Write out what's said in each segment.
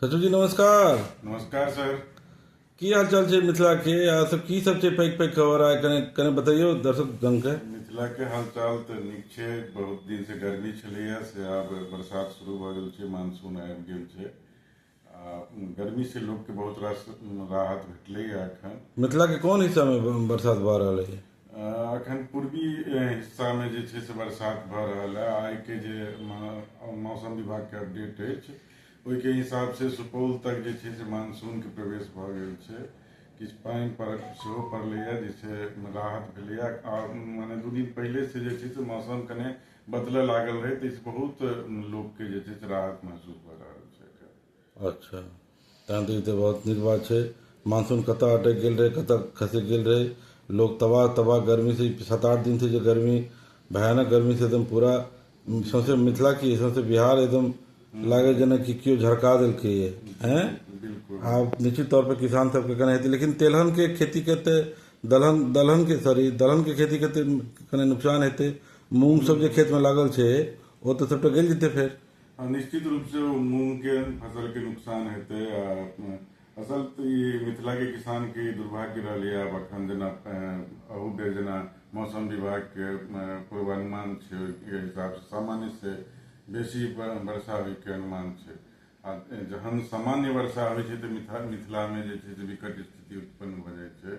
सचिव जी नमस्कार नमस्कार सर की हाल चाल छै मिथिला के आ सब की सब छै पैक पैक खबर आ कने कने बताइयो दर्शक जन के मिथिला के हाल चाल तऽ नीक छै बहुत दिन से गर्मी छलैया से आब बरसात शुरू भऽ गेल छै मानसून आबि गेल छै आ गर्मी से लोक के बहुत रास राहत भेटलैया एखन मिथिला के कोन हिस्सा में ब- बरसात भऽ रहल है अखन पूर्वी हिस्सा में जे छै से बरसात भऽ रहल है आइ के जे मौसम विभाग के अपडेट अछि ओहि के हिसाब से सुपौल तक जे छै से मानसून के प्रवेश भऽ गेल छै किछु पानि पड़ल सेहो पड़लैए जाहिसँ राहत भेलैए आ मने दू दिन पहिलेसँ जे छै से मौसम कने बदलय लागल रहै ताहिसँ बहुत लोककेँ जे छै से राहत महसूस भऽ रहल छै अच्छा तहन तऽ ई तऽ बहुत नीक बात छै मानसून कतऽ अटकि गेल रहै कतऽ खसकि गेल रहै लोक तबाह तबाह गरमीसँ ई सात आठ दिनसँ जे गरमी भयानक गरमीसँ एकदम पूरा सौँसे मिथिला कि सौँसे बिहार एकदम लागै जेनाकि केओ झरका देलकैए अँए आब निश्चित तौरपर किसान सबके कनि हेतै लेकिन तेलहनके खेतीके तऽ दलहन दलहनके सॉरी दलहनके खेतीके तऽ कनि नोकसान हेतै मूँगसब जे खेतमे लागल छै ओ तऽ सबटा गलि जेतै फेर निश्चित रूप से मूंग के फसल के नुकसान हेते असल तो ये मिथिला के किसान के दुर्भाग्य रहा है अब अखन जना अहू बेर जना मौसम विभाग के पूर्वानुमान है के हिसाब से सामान्य से बेसी वर्षा होय के अनुमान है आ जहन सामान्य वर्षा होय छै तऽ मिथिला मिथिला में जे छै से विकट स्थिति उत्पन्न भऽ जाय छै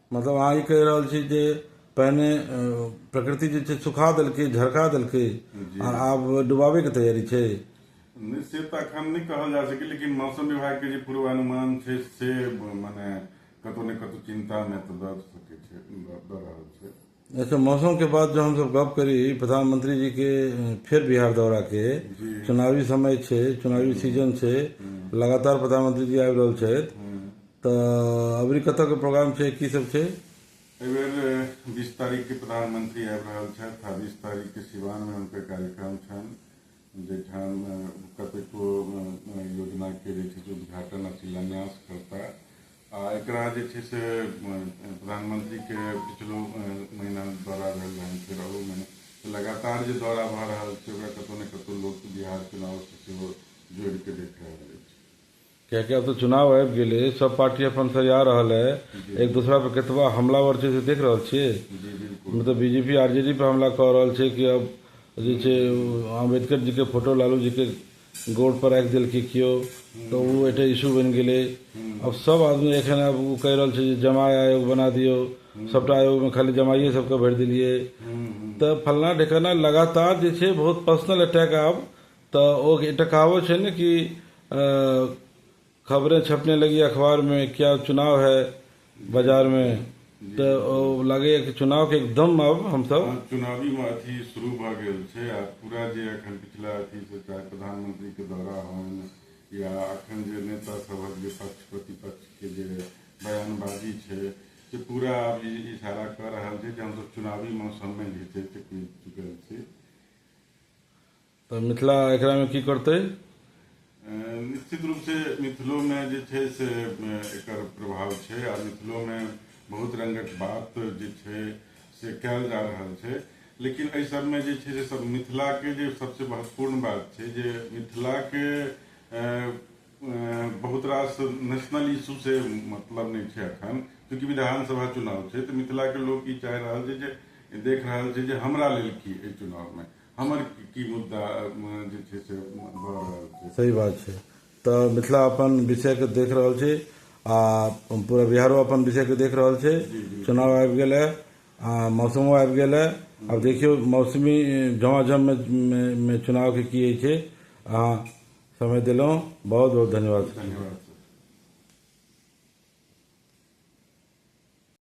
मतलब अहाँ ई कहि रहल छी जे पहिने प्रकृति जे छै सुखा देलकै झरका देलकै आ आब डुबाबे के तैयारी छै नहि से तऽ अखन नहि कहल जा सकै लेकिन मौसम विभाग के जे पूर्वानुमान छै से मने कतौ ने कतौ चिंता मे तऽ दऽ सकै छै दऽ रहल छै अच्छा मौसम के बाद जो हम सब गप करी प्रधानमंत्री जी के फिर बिहार दौरा के चुनावी समय छे चुनावी सीजन छे लगातार प्रधानमंत्री जी आबि रहल छथि तऽ अबरी कतऽ के प्रोग्राम छै की सब छै एहि बेर बीस तारीख के प्रधानमंत्री आबि रहल छथि आ बीस तारीख के सिवान में हुनकर कार्यक्रम छनि जाहिठाम कतेको योजना के जे छै से उद्घाटन आ शिलान्यास करता आ एकरा जे छै से प्रधानमंत्री के पिछलो महीना दौरा भेल रहनि फेर अहू महीना तऽ लगातार जे दौरा भऽ रहल छै ओकरा कतहु ने कतहु लोक बिहार चुनाव से सेहो जोड़ि कऽ देख रहल अछि किएक कि आब त चुनाव आबि गेलै, सब पार्टी अपन सरिया रहल ऐ, एक दोसरा पर केतबा हमलावर छै से देख रहल छियै। नै त बीजेपी आरजेडी पर हमला क रहल छै कि आब जे छै आंबेडकर जी के फोटो लालू जी के गोड़ पर राखि देलकै कियो त ओ एकटा इशू बनि गेलै। आब सब आदमी एखन आब ओ कहि रहल छै जे जमाय आयोग बना दियौ, सबटा आयोग मे खाली जमाइये सब के भरि देलियै। त फलना ढेकाना लगातार जे छै बहुत पर्सनल अटैक आब तऽ ओ एकटा कहावत छै ने कि खबरें छपने लगी अखबार में क्या चुनाव है बाजार में तऽ ओ लागैए कि चुनावके एकदम आब हमसभ हँ, चुनावी में अथी शुरू भऽ गेल छै आ पूरा जे एखन पिछला अथी से चाहे प्रधानमंत्री के दौरा होन या अखन जे नेता सभक जे पक्ष प्रतिपक्ष के जे बयानबाजी छै से पूरा आब ई इशारा कऽ रहल छै जे हमसभ चुनावी मौसम में घिचैत चुकल छी तऽ मिथिला एकरामे की करतै निश्चित रूप से मिथिलो में जे छै से एकर प्रभाव छै आ मिथिलो में बहुत रंगक बात जे छै से कयल जा रहल छै लेकिन एहि सबमे जे छै से सब मिथिलाके जे सबसे महत्वपूर्ण बात छै जे मिथिलाके बहुत रास नेशनल इशू से मतलब नहि छै अखन चूँकि विधानसभा चुनाव छै तऽ मिथिलाके लोक ई चाहि रहल छै जे देख रहल छै जे हमरा लेल की एहि चुनावमे हमर की मुद्दा जे छै से भऽ रहल छै सही बात छै तऽ मिथिला अपन विषयके देख रहल छै आ पूरा बिहारो अपन विषयके देख रहल छै चुनाव आबि गेल है आ मौसमो आबि गेल है आब देखियौ मौसमी झमाझममे मे चुनावके की होइ छै अहाँ समय देलहुँ बहुत बहुत धन्यवाद धन्यवाद